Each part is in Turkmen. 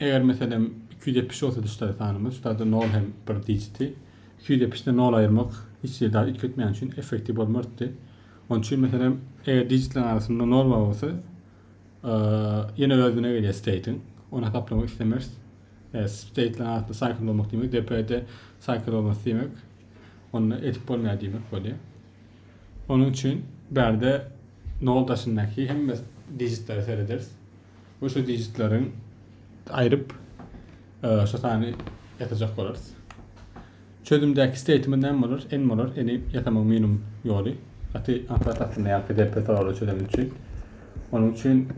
Eger meselem iki ýüz ýetmiş bolsa düşler sanymyz, şularda nol hem bir dijiti. Iki ýüz ýetmişden nol aýyrmak hiç hili zat üýtgetmeýän üçin effektiw bolmardy. Onuň üçin meselem eger dijitleriň arasynda nol bar bolsa ýene özüne gelýär steýtiň. Ony hasaplamak islemeris. E, steýtleriň arasynda saýkl bolmak diýmek DP-de saýkl bolmasy diýmek. Onda edip bolmaýar diýmek bolýar. Onuň üçin bärde nol daşyndaky hemme dijitleri serederis. we şu dijitleriň aýryp şu sany ýatajak bolarys. Çözümdäki statement näme bolar? N bolar. N-i ýasamagyň minimum ýoly. Gaty aňsat aslynda ýa PDP soraglar çözmek üçin. Onuň üçin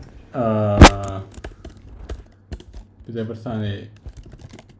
bize bir sany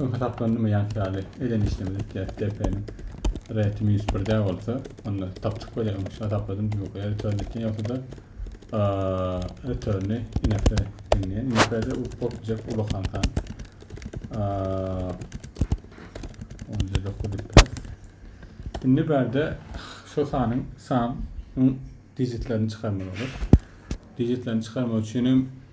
Öň hasaplandymy ýaňky ýaly eden işlemini isleýäs DP-niň reti minus birde bolsa onda tapjyk bolýar öň hasapladym ýokary return etýän ýogsada returny inakda diňleýän inakda u bolupjak ulakan san onda dokuz indi bärde şu sanyň san digitlerini çykarmaly bolar digitlerini çykarmak üçin hem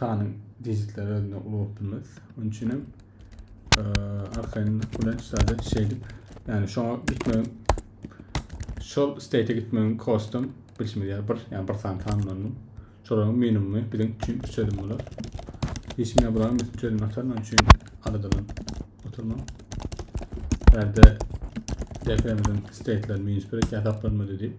Sanyň digitleri özünde ulanyp bilmez. Onun için hem e, arkaýynlyk bilen şeýle şeýdip, yani şoňa gitmegiň şol state gitmegiň kostum bilşimiz ýaly bir, yani bir sany tanlandy. Şolaryň minimumy biziň üçin üç çözüm bolar. Işime bulan biz çözüm ataryn, onun üçin aradalan oturma. Berde DPM'den state'ler minus 1 ýasaklanymaly diýip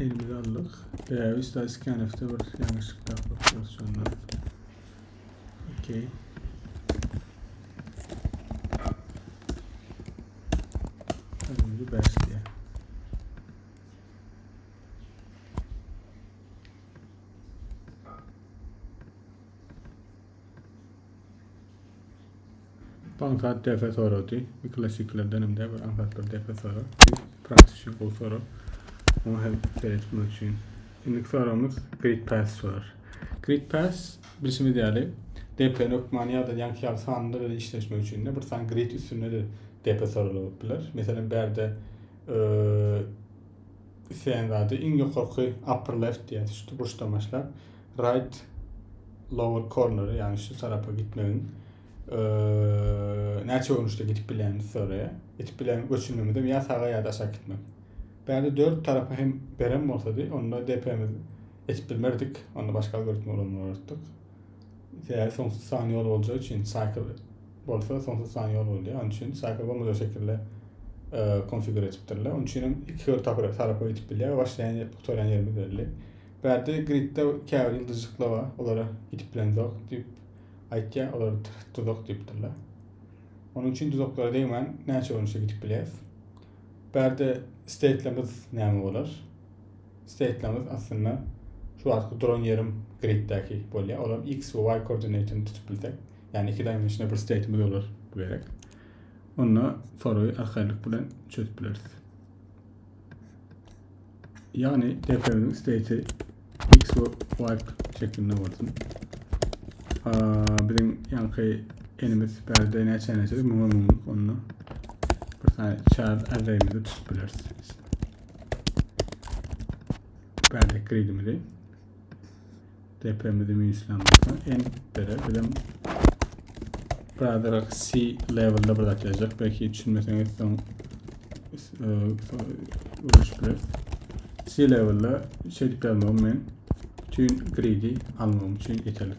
Elimize aldyk. Bäbiş da iskenefde bir ýalňyşlyk tapypdyr şondan. Okey. Önümli başlıyor. Bu aňsat depe sorady. Bir klasiklerden hem de bir aňsat bir depe soru. Praktik üçin gowy soru. Onu hem seyretmek üçin. Şimdi sorumuz grid pass sorar. Grid pass bilişimiz ýaly DP nokmany ýa-da ýanki ýaly sanlar bilen işleşmek üçin de bir san grid üstünde de DP soralyp biler. Meselem, bärde isleýän zady iň ýokarky upper left diýýär, şu burçdan başlap Right lower corner, ýagny şu tarapa gitmegiň näçe görnüşde gidip bilenini soraýar. Gidip bilen göçürmemizem ýa saga ýa-da aşak gitmek. Bäde dört tarapa hem beren bolsady, onda DP-miz etip bilmerdik, onda başga algoritmi ulanmalydyk. Sebäbi soňsuz san ýol boljagy üçin cycle bolsa soňsuz san ýol bolýar. Onuň üçin cycle bolmajak şekilde konfigur etipdirler. Onuň üçin hem iki tarapa gidip bilýär. Başlaýan, gutarýan ýerimiz belli. Bärde Gridde käbir ýyldyzjyklar bar, olara gidip bilemzok diýip aýtýar, olar duzak diýipdirler. Onuň üçin duzaklara degmän näçe görnüşe gidip bileris. Bärde steýtlerimiz näme bolar? Steýtlerimiz aslynda şu wagtky duran ýerim griddäki bolýar. Olam X we Y koordinatyny tutup bilsek, ýagny iki dimensional bir steýtimiz bolar bu gerek. Onda soragy arkaýynlyk bilen çözüp bileris. Ýagny depremiň state x we y şeklinde bolsun. Biziň ýaňky enimiz bärde näçe näçe müňe müňlük onda bir tane çar arrayimizi tutup bileris. Bärde kredimizi. Depemizi minuslamyzda en dere bizem Brother C level'da bir zat yazacak. Belki düşünmeseňiz son uruş e, bilir. C level'da şey dip yazmam men. Bütün greedy almam için yeterlik.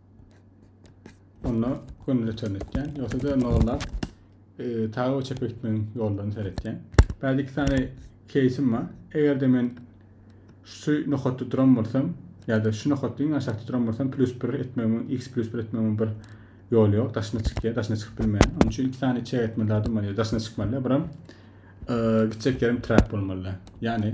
Onda gömle çönetýän, ýogsa da nollap e, saga we çepe gitmegiň ýollaryny seretýän. Bäde iki sany keýsim bar. Eger-de men şu nokatda duran bolsam, ýa-da şu nokatda iň aşakda duran bolsam, plus 1 etmegiň, x plus 1 etmegiň bir ýoly ýok. Daşyna çykýar, daşyna çykyp bilmeýär. Onuň üçin iki sany çek etme lazym bolýar. Daşyna çykmaly, biram e, gitjek ýerim trap bolmaly. Ýagny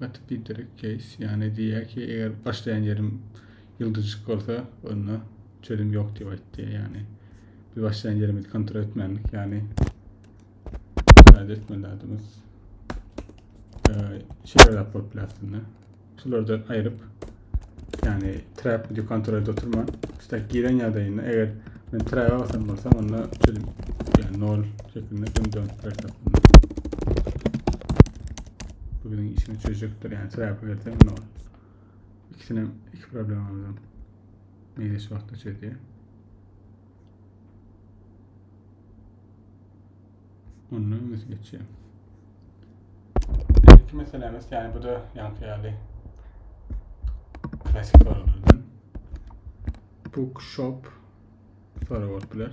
Gaty pidere keýs. Ýani diýýär ki, eger başlaýan ýerim ýyldyzjyk bolsa, onda çözüm ýok diýip aýtdy. Ýani biz başlaýan ýerimizi kontrol etmändik. Ýani kontrol etmeli adamyz. Ee, şeýle zat bolup biler aslynda. Şulardan aýryp, ýagny trap video kontrolde oturman, istek giren ýagdaýynda eger men trap basan bolsam, onda çözüm ýagny 0 şeklinde bunu dönüp berse. Bu biziň işini çözjekdir, ýagny trap berse 0. İkisini iki problemamyzdan meýleş wagtda çözýär. Ondan öňesi geçýär. Ilki meselämiz, ýani bu da ýanky ýaly klasik soralardan. Bookshop soragy bolup biler.